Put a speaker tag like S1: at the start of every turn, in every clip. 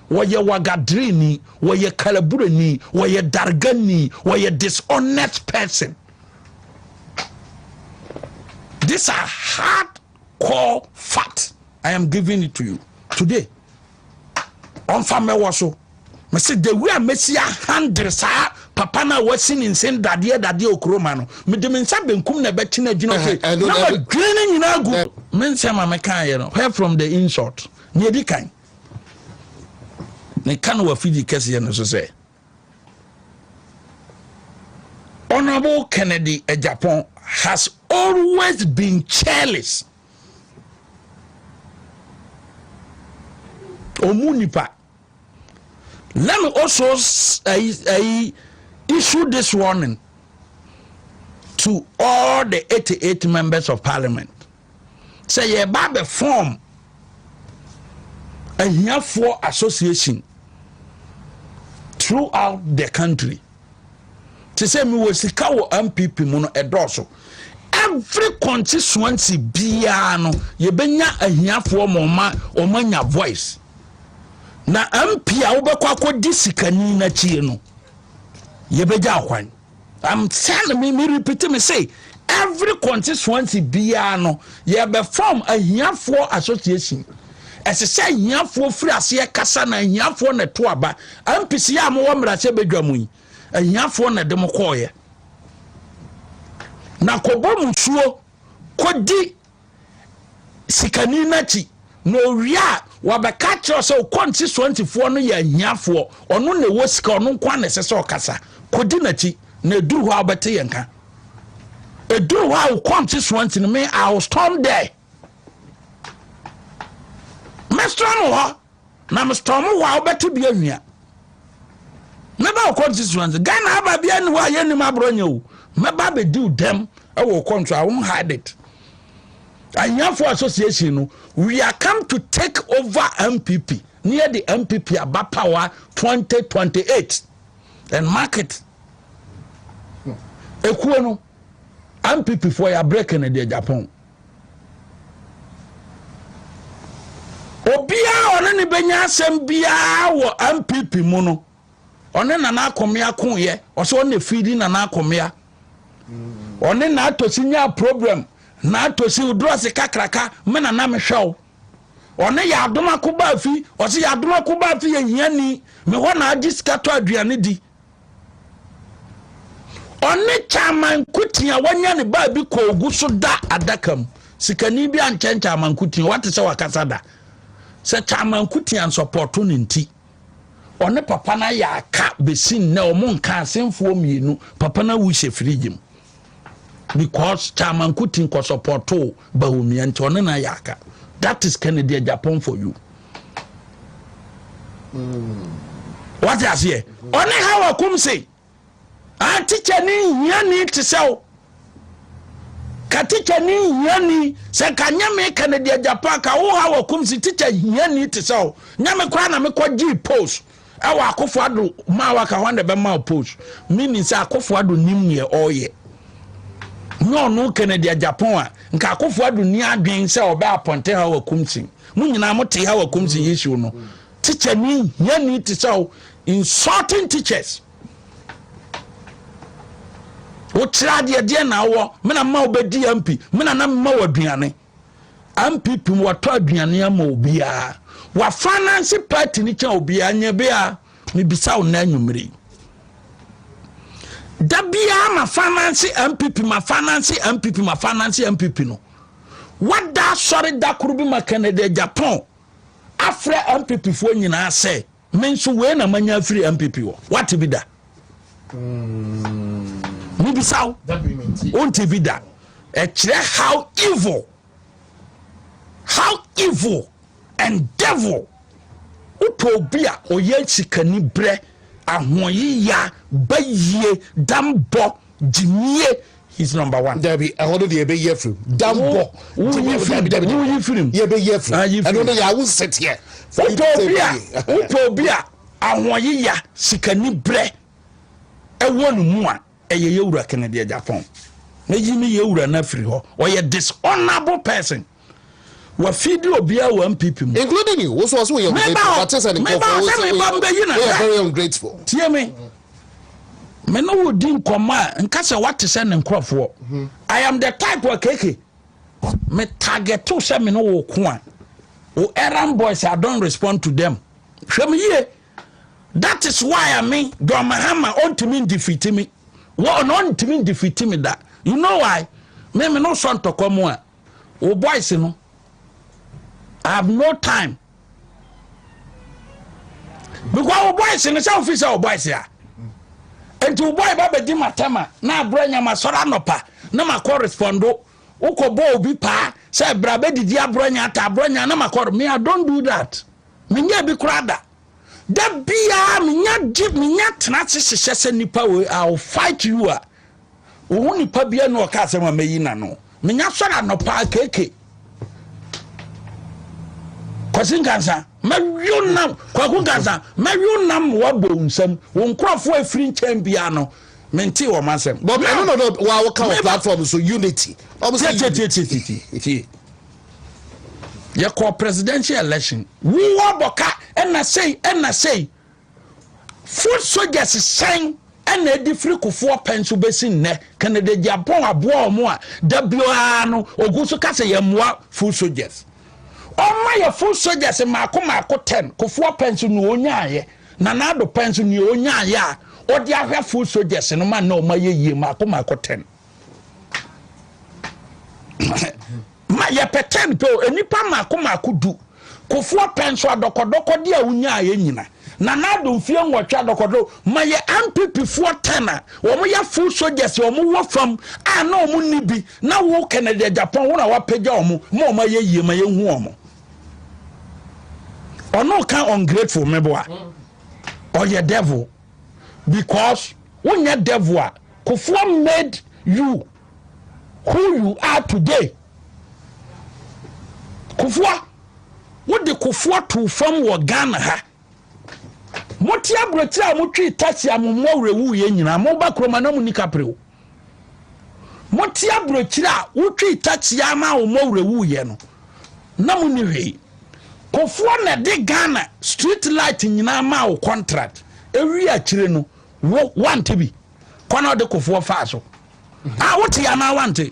S1: wɔyɛ wagadireni, wɔyɛ kalabureni, wɔyɛ dargani, wɔyɛ dishonest person. These are hard core facts. I am giving it to you today. Ɔnfa mɛwɔ so. Mese the way a mesi ahandere saa papa no a wasi ne nsen dadeɛ dadeɛ okuroma no mede me nsa benkum na ɛbɛkye no agyina hɔ na madwene no nyinaa gu me nsɛm a mekaeɛ no where from the insult ne ɛdi kan Meka no wɔ afidie kɛseɛ no so sɛ Honorable Kennedy Agyapong has always been careless. Omu nipa. Let me also I, I issue this warning to all the 88 members of parliament. sɛ yɛreba abɛ form ahiafoɔ association throughout the country te sɛ mewɔ sika wɔ mpp mu no ɛdɔɔso every constituency biara no yɛbɛnya ahiafoɔ ma ɔma ɔma nya voice na mp a wobɛkɔ akɔdi sikani no akyie no yɛbɛgya kwan I'm telling me me repeat me say every constituency biara no yɛbɛ form ahiafoɔ association ɛsɛ sɛ ahiafoɔ firi aseɛ kasa na ahiafoɔ na ɛto aba mpc yɛ a mo wɔ mmarahyɛ badwa mu yi ahiafoɔ na ɛde mo kɔɔyɛ na kɔbɔ musuo kɔdi sikani no akyi na owie a wɔbɛka kyerɛ sɛ okɔnsisoantifoɔ no yɛ ahiafoɔ ɔno na ɛwɔ sika ɔno nko na ɛsɛ sɛ ɔkasa kɔdi n'akyi na ɛduru hɔ a wobɛte yɛn ka ɛduru hɔ a okɔnsisoanti no me I will storm there mɛstorm hɔ Na me storm hɔ a wobɛte bi anwia mɛba wo constituency ghana aba bia ne hɔ a yɛnnim aborɔ nyɛ o mɛba bɛdi wo dɛm ɛwɔ wo kɔnto a won hide it ahiafoɔ association no we are come to take over mpp ne yɛde mpp aba power 2028 and market ekuo no Ampipi foɔ yabrɛ kɛnɛ deɛ Japan. Obiara ɔne ne bɛnya asɛm biara wɔ ampp mu no ɔne nana akomea koyɛ ɔsɛ ɔne fiidi nana akomea ɔne na atosi nya problem na atosi oduru ase kakraka me nana mehwɛ wo ɔne yɛ adoma ko baa fi ɔsɛ yɛ adoma ko baa fi yɛ hia ni me hɔ na agye sika tɔ aduane di Ɔne Kyaama Nkotin a wanya ne baa bi kɔɔ gu so da adaka mu. Sikani bi ankyɛn Kyaama Nkotin, wate sɛ wakasa da. Sɛ Kyaama Nkotin ansɔpɔto no nti, ɔne papa no ayɛ aka bɛsi nnɛ ɔmo nka asenfoɔ mmienu, papa no awu hyɛ firigye mu. because chairman kuti nkɔ support o ba onua nti ɔne na yɛ aka that is kennedy ajapon for you wate aseɛ ɔne ha wɔ kum se a teacher ne nhia ni te sɛ o ka teacher ne nhia ni sɛ ka nyɛ me kennedy ajapon ka wo ha wɔ kum se teacher hia ni te sɛ o nyɛ me koraa na mekɔ gye post ɛwɔ akofo ado ma waka hɔ na bɛma post mini sɛ akofo ado nim neɛ ɔyɛ nyɛ ɔno kennedy ajapon a nka akofo ado ni adwen sɛ ɔbɛ apɔnte ha wɔ kumsin mo nyinaa mo te ha wɔ kumsin issue no teacher ni hia ni te sɛ o insulting teachers wokyerɛ adeɛ deɛ na awɔ mena ma wobɛdi mp mena na mma wɔ aduane ampp mu watɔ aduane ama obiara wa finance party ne kyɛn obiara nyɛ bia mebisa wo na anwummere da biara ma finance ampp ma finance ampp ma finance ampp no wada asɔre da koro bi ma Canada Japan afrɛ ampp foɔ nyinaa sɛ Me nso wei na manya afiri MPP wɔ. Wate bi da? Mebisa wo. Wonte bi da. Ɛkyerɛ how evil. How evil and devil. Wopɛ obi a ɔyɛ sikani berɛ ahoɔyeya bayie dambɔ gyimie he's number one. dabi ɛhɔ no deɛ ɛbɛyi
S2: afiri mu dambɔ woyi firi mu
S1: woyi firi mu yɛbɛyi afiri mu
S2: ɛno no yɛ awo nsɛteɛ wopɛ obi a wopɛ obi
S1: a ahoɔyeya sikani brɛ ɛwɔ ne mu a ɛyɛ yɛwura kennedy agyapɔn mɛyi me yɛwura no afiri hɔ ɔyɛ dishonorable person wafeedi obiara wɔ NPP mu. Including you, wo so ɔso
S2: woyɛ ungrateful, wate sɛ ne nkɔfoɔ wo sɛ woyɛ very ungrateful. Tie me,
S1: me ne wo di nkɔmmɔ a, nka sɛ wate sɛ ne nkurɔfoɔ. Hmm. I am the type wa keke, me target to sɛ me ne wo ko a, wo errand boys, I don't respond to them. Hwɛ me yie, that is why I mean, John Mahama, ɔntumi defeat me. Wɔ ɔno ɔntumi defeat me da. You know why? Me me no sɔ ntɔkwa mu a. Wo boys no I have no time because wo boys no sɛ wofi sɛ wo boys a nti wo boy ba bɛdi matɛma na abrɛ nyama sɔrɔ anɔpa na makɔ respondo wokɔ bɔ obi paa sɛ bra bɛdidi abrɛ nya ata abrɛ nya na makɔ me I don't do that menyɛ bi koraa da da biara menya gye menya tena ase hyehyɛ sɛ nipa wei I will fight you a Wohu nipa bia na ɔka asɛm a mɛyi n'ano. Menya sɔre anɔpa keke. Kwasi Nkansa, mɛwio nam, Kwaku Nkansa, mɛwio nam wabɔ nsɛm. Wo nkurɔfoɔ afiri nkyɛn biara no, mente wɔn asɛm. But ɛno na ɔdɔ wa
S2: wɔka wɔ platform so unity. Ɔmo sɛ unity. Tie tie tie tie.
S1: Yɛkɔ presidential election. Wo abɔka ɛna sei ɛna sei. Foot soldiers sɛn na adi firi kofoɔ pɛn so bɛsi nnɛ Kennedy Gyapɔn aboa wɔn a da biara no ogu so ka sɛ yɛn mmoa foot soldiers ɔma yɛ foot soldiers mmaako mmaako ten kofoɔ pɛn so nea ɔnyaayɛ na n'ado pɛn so nea ɔnyaayɛ a ɔde ahwɛ foot soldiers no ma na ɔma yɛ yie mmaako mmaako ten. ma yɛpɛ ten pɛ o nnipa mmaako mmaako du kofoɔ pɛ nso adɔkɔdɔkɔdeɛ a wonyaa yɛ nyina na naado mfie nwɔtwe adɔkɔdɔ ma yɛ ampipifoɔ ten a wɔn yɛ full soldiers wɔn wɔ fam a na wɔn nni bi na wo kennedy japan wɔn a wapagya wɔn ma wɔn ayɛ yie ma yɛhu wɔn ɔno ka ungrateful meboa ɔyɛ devil because wonyɛ devil a kofoɔ made you who you are today kofoɔ wode kofoɔ too fam wɔ Ghana ha mote aburokyerɛ a motwee tasi a mo mmoa werɛ wuiɛ nyinaa moba kuroma na mo ni kaprew Mote aburokyiri a wotwii takyia ma wɔn awura wuiɛ no na mo ni hwee. Kofoɔ na ɛde Ghana street light nyinaa maa wo contract. Ewi akyire no wo wante bi. Kwan a ɔde kofoɔ faa so. A wote anaa wante?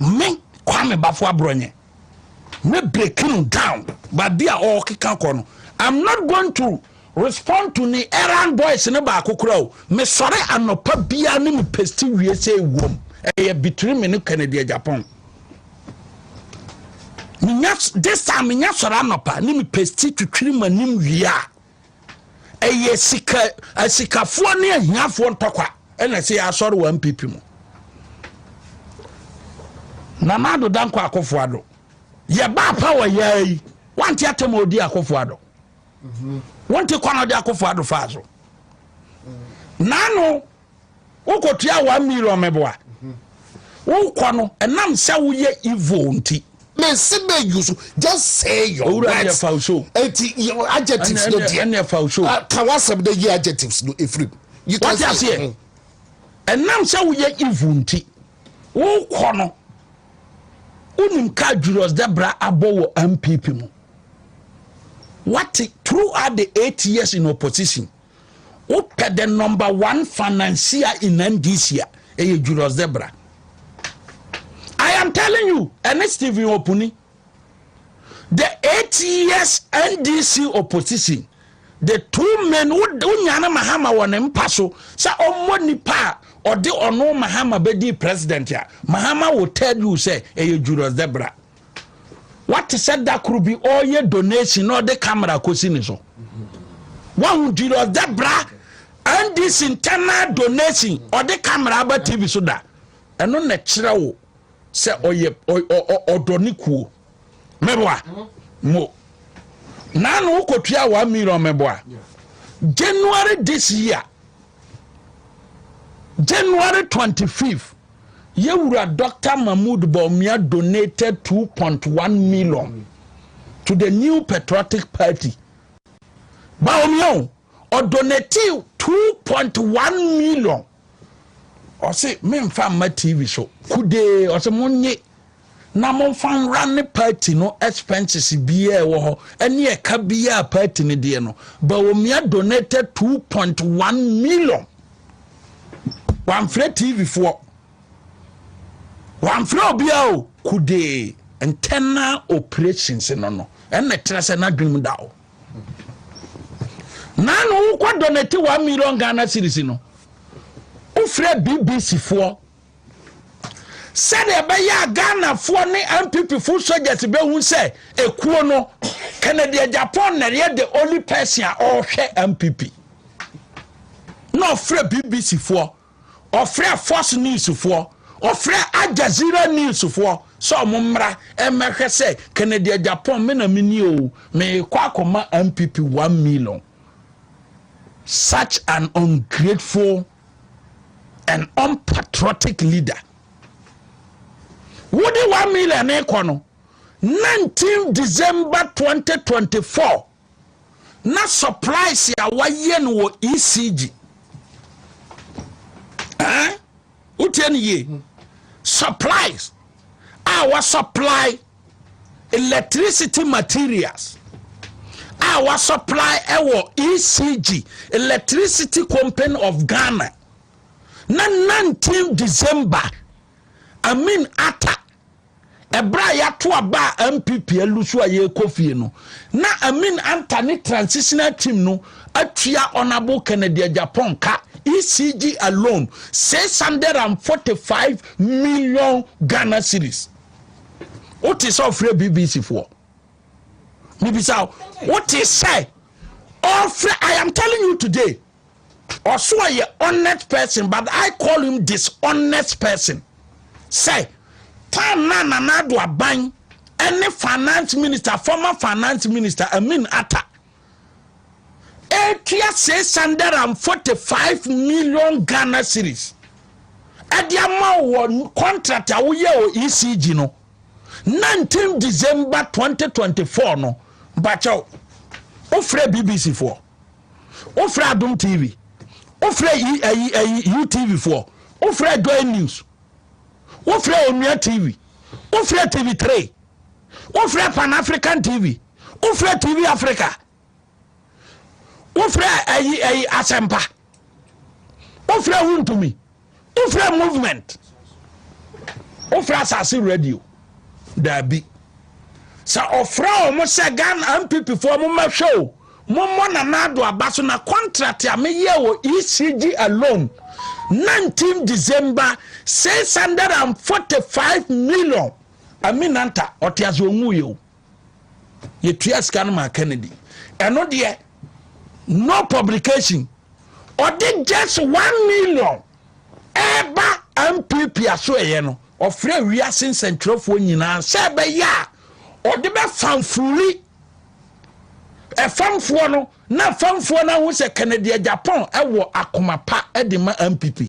S1: me kwame bafo abrɔnyɛ me break no down baabi a ɔkeka kɔ no i'm not going to respond to ne errand boys ne baako kora o mesɔre anɔpa biara ne me pesti wie sɛ ɛwom ɛyɛ between me ne kennedy ajapon menya this time menya sɔre anɔpa ne me pesti twitwiri m'anim wie a ɛyɛ sika asikafoɔ ne ahiafoɔ ntɔkwa ɛna ɛsɛ yɛ asɔre wɔ npp mu nana ado dankɔ akofo ado yɛba apa wɔ yɛa yi wante atɛm ɔdi akofo ado wonte kwan ɔde akofo ado faa so nano wokotua one million meboa wokɔ no ɛnam sɛ woyɛ evil nti mesi bɛ yu
S2: so just say your words owura deɛ faw so eti adjectives no deɛ ɛnna faw so ah, ka wasɛm de yi adjectives no efirim you can say aseɛ mm. ɛnam
S1: sɛ woyɛ evil nti wokɔ no wonim kaa julius debra abɔ wɔ mpp mu wate throughout the eight years in opposition Wopɛ the number one financier in NDC a, ɛyɛ Julius Debra. I am telling you, ɛne Stephen Opuni. The eight years NDC opposition, the two men who nyane Mahama wɔ ne mpa so sɛ ɔmmɔ nipa a ɔde ɔno Mahama bɛdi president a, Mahama will tell you sɛ ɛyɛ Julius Debra. wate sɛ da koro bi ɔreyɛ donation na ɔde camera kɔsi ne so wahu julius da bra ndc internal donation ɔde camera aba tv so da ɛno na kyerɛ wo sɛ ɔyɛ ɔdɔ ne kuo mɛboa mo na no wokɔtua one million mɛboa january this year january 25 Yɛwura Doctor Mahmoud Bawumia donated 2.1 million to the New Patriotic Party. Bawumia o, ɔdonate 2.1 million. Ɔse, memfa mma TV so. Kudee, ɔse monye. na momfa nwra ne party no expenses biaa ɛwɔ hɔ ɛne ɛka biaa party no deɛ no Bawumia donated 2.1 million wamfrɛ TV foɔ wamfrɛ obiaa o kudee ntɛna operations no no ɛna ɛtena sɛ n'adwenem da o na no wokɔ donate 1 million Ghana series no wofrɛ BBC foɔ sɛdeɛ ɛbɛyɛ a ghanafoɔ ne nppfoɔ soldiers bɛhu sɛ ɛkuo no kennedy japan na ɛyɛ the only person a ɔrehwɛ npp na ɔfrɛ bbc foɔ ɔfrɛ fox news foɔ ɔfrɛ aljazira news foɔ sɛ ɔmo mmra ɛmɛhwɛ sɛ kennedy japan me na me ni o meekɔ akɔma npp one million such an ungrateful an unpatriotic leader What do one million ne kɔ no 19 december 2024 na supplies a wayɛ no wɔ ecg wotie no yie supplies a wɔsɔplae electricity materials a wɔsɔplae wɔ ecg electricity company of ghana na 19 december amin ata ɛberɛ a yɛato aba a mpp alu so a yɛrekɔ fie no na amin anta ne transitional team no atua honourable Kennedy Agyapong ka, ECG alone, 645 million Ghana cedis. Wote sɛ ɔfrɛ BBC foɔ? Mebisa wo, wote sɛ ɔfrɛ? I am telling you today, ɔso ɔyɛ honest person but I call him dishonest person. Sɛ time na Nana Addo Aban ɛne finance minister, former finance minister Amin Atta ɛtua 645 million ghana series ɛde ama wɔ contract a woyɛ wɔ ecg no 19 december 2024 no bakyɛw wofrɛ bbc foɔ wofrɛ adom tv wofrɛ utv foɔ wofrɛ joy news wofrɛ onua tv wofrɛ tv3 wofrɛ pan african tv wofrɛ tv africa wofrɛ ayi ayi asɛmpa wofrɛ wontumi wofrɛ movement wofrɛ asase radio daabi sɛ ɔfrɛ ɔmo sɛ ghana mpp foɔ mo mɛhwɛ o mo mmɔ na naado aba so na contract a meyɛ wɔ ecg alone 19 december 645 million aminanta ɔte ase ɔnwuyɛ o yɛtua sika no maa kennedy ɛno deɛ no publication ɔde just one million ɛba mpp aso ɛyɛ no ɔfrɛ wiase nsɛntwerɛfoɔ nyinaa sɛ ɛbɛyɛ a ɔde bɛfamfuli ɛfamfoɔ no na famfoɔ no ahu sɛ kennedy japan ɛwɔ akoma pa de ma mpp